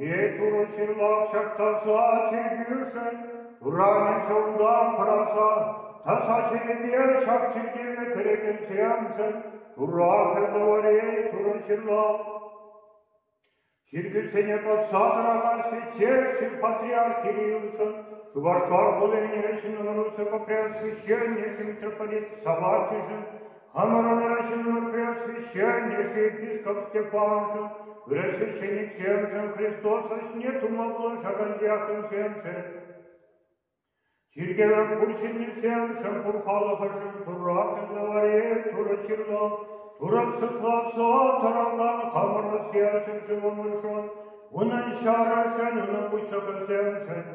Е Турӑ ҫырлахчак таса чиркӳшӗн урамӗ чунтан пӑрахсан, таса чиркӳ ҫак чиркӗве кӗрекенсемшӗн Турра кӗлтӑварей Турӑ ҫырлав. Чиркӳсене пӑхса тӑракан святейший патриарх Кириллшӑн Шупашкар хулине ҫыннӑрусо-Купрянский ҫырнишӗн митрополит Саватишӗн Хамӑрӑнра ҫыннӑн-пуяшри ҫӗрӗн те ӗҫӗ епископ Степаншӑн, хресченӗсемшӗн, Христос ӗҫне тума пулӑшакан диаконсемшӗн, чиркӗвӗн пур ҫыннисемшӗн, пур халӑхӑшӑн Турра кӗнӗ Мария, Турӑ ҫырлав, Турӑ сыхлавсо тӑракан хамӑрӑн серчӗн ҫӑвӑмӑршӑн, унӑн ҫарӗшӗн, унӑн пуҫлӑхӗсемшӗн.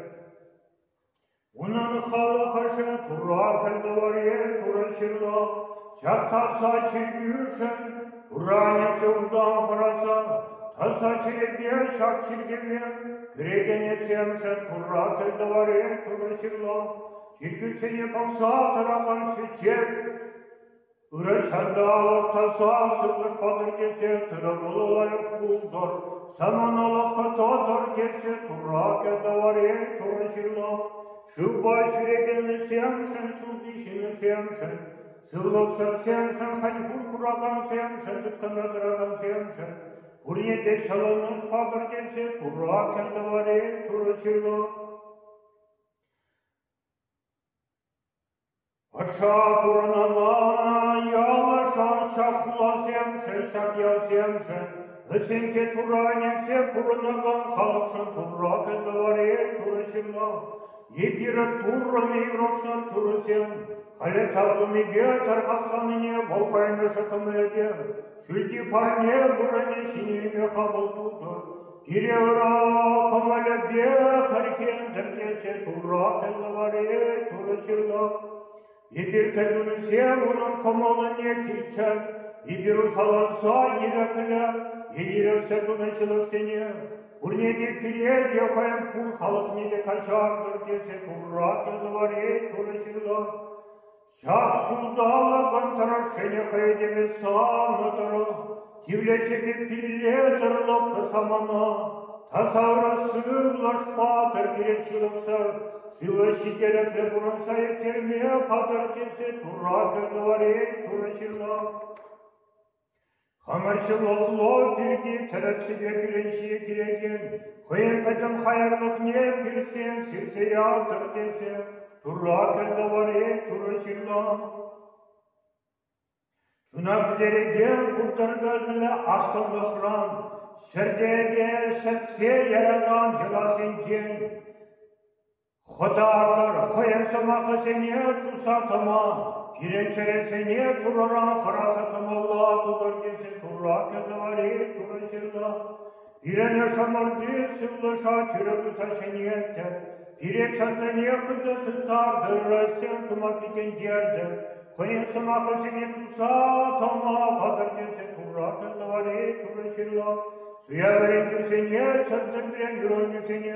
Унӑн халӑхӗшӗн куракӗн Новорьен турӑн ҫырлӑх, ҫак таса чиркӳшӗн Туранӗнче утам хӑрасан, таса чирӗпе ҫак чиркӗве кӗрекенӗсемшӗн куракӗн Новорьен турӑн ҫырлӑх, чиркӳсене пӑхса тӑракан священник Ырӑ-ҫанталӑк таса сывлӑш патӑр тесе тырӑ-пулӑ лайӑх пултӑр, саманалӑх кӑтартӑр тесе тура кӗтӗвӗре Турӑ ҫырла. Шывпа ҫӳрекеннисемшӗн, ҫулти ҫыннисемшӗн, сывлӑхсӑрсемшӗн, хӑть пур куракансемшӗн, тыткӑна тӑракансемшӗн, пурне те ҫӑлӑнӑҫ патӑр тесе тура кӗтӗвӗре Турӑ ҫырла. Пӑрҫа пурӑнана ялашан ҫак хуласемшӗн, ҫак ялсемшӗн, вӗсенче туранӗсем пурӑнакан халӑхшӑн турракӗ тавари турӑ ҫынна. Е пирӗн туррӑн-и юратсан чурӑсем, халӗ ҫав тумипе тархасланине вӑл кайнӑшӗ кӑмӑлӗпе, ҫӳлти парне вырӑнӗ ҫине илме хапӑл тутӑр. Кире-ура кӑмӑлӗпе хӗрхентӗм тесе турратӑннӑ вари Турӑ ҫырнӑ. Эпир кӗтӳрсем унӑн кӑмӑлне килчӗ, эпир усаланса ирӗклӗ е ирӗксӗр тунӑ ҫылӑхсене, пурне те пире те хӑйӗн пур халӑхне те каҫартӑр тесе турратӑннӑ вари Турӑ ҫырнӑ. Ҫак ҫулталӑкӑн тӑрӑшшине хӑй этеме савнӑ тӑрӑх тивлечӗпе пилле тӑрлӑхлӑ самана тасавра сывлӑш патӑр пирӗн ҫылӑхсӑр сывӑ ҫителӗклӗ пурӑнса ирттерме хатӗр тесе тура кӗрнӗ варен турӑ ҫынна. Ӗмӗрҫӗ-лӑлло пирки тӗрӗссипе кӳренсе килекен хӑйӗн пӗтӗм хаярлӑхне пиртен сирсе ялтӑр тесе Турра кӗлтӑвари Турӑ ҫырнӑ. Чуна пӗтерекен куртӑркӑшӑллӗ астӑвлӑхран, ҫӗртеке ҫӗтсе яракан йӑласенчен, Хӑтартӑр хӑйӗн сӑмахӗсене туса тӑма, пирӗн чӗресене Турӑра хӑраса тӑмалла тутӑр тесе Турра кӗтӗвӗри Турӑ ҫырнӑ. Пирӗн ӑшӑмӑрти сывлӑша тӳрӗ туса ҫӗнеттӗр, пире чӑннине хытӑ тыттартӑр, Россия тума пикентертӗр, хӑйӗн сӑмахӗсене туса тӑма хатӗр тесе Турра кӗтӗвӗри Турӑ ҫырнӑ. Суя вӗрентӳсене, чӗртӗн вӗрентӳсене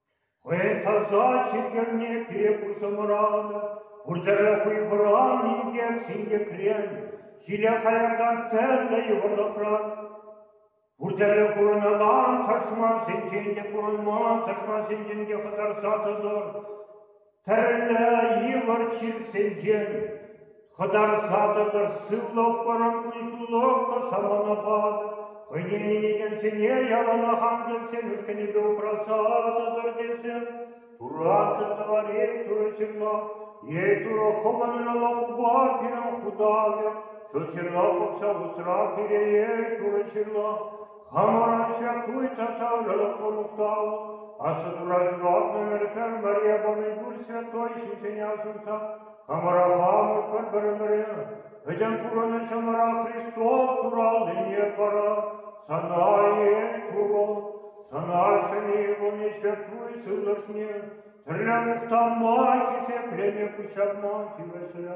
Хӑй таса чиперне пире курса мӑранӑ, пуртӑрӗ хуйхӑран инкек синкекрен, сире хаяртан тӗрлӗ йывӑрлӑхран, пуртӑрӗ курӑнакан тӑшмансенчен те курӑнман тӑшмансенчен те хӑтарса тӑтӑр. Тӗрлӗ йывӑр чирсенчен хӑтарса тӑтӑр сывлӑхпӑрӑн кун-ҫуллӑхпӑр саманапа хӑйне ӗненекенсене яланах ангелсен ушкӑнӗпе упраса тӑтӑр тесе туратӑн тӑвар эй турӑ ҫырла эй турӑ хӑманӑн ала хупа пирӗн хутавӗ ҫут ҫырла пӑхса усра пире эй турӑ ҫырла Хамӑрачча туй тасаллӑлӑх мухтав. Аслӑ тура ҫуралнӑ ӗмӗрсем мӗре памӗн пурччӗ той ҫинчен асӑнса. Хамӑра хамӑр пӗр ӗмӗре. Пӗтӗм пурӑнӑн чӑмӑра Христос тураллине пара. Сана эй Турӑ, сана ҫӗнӗ ывӑлнеҫпе туй сывлӑшне, тӗрлӗ мухтама, хисеплене пуҫҫапма тивӗҫлӗ.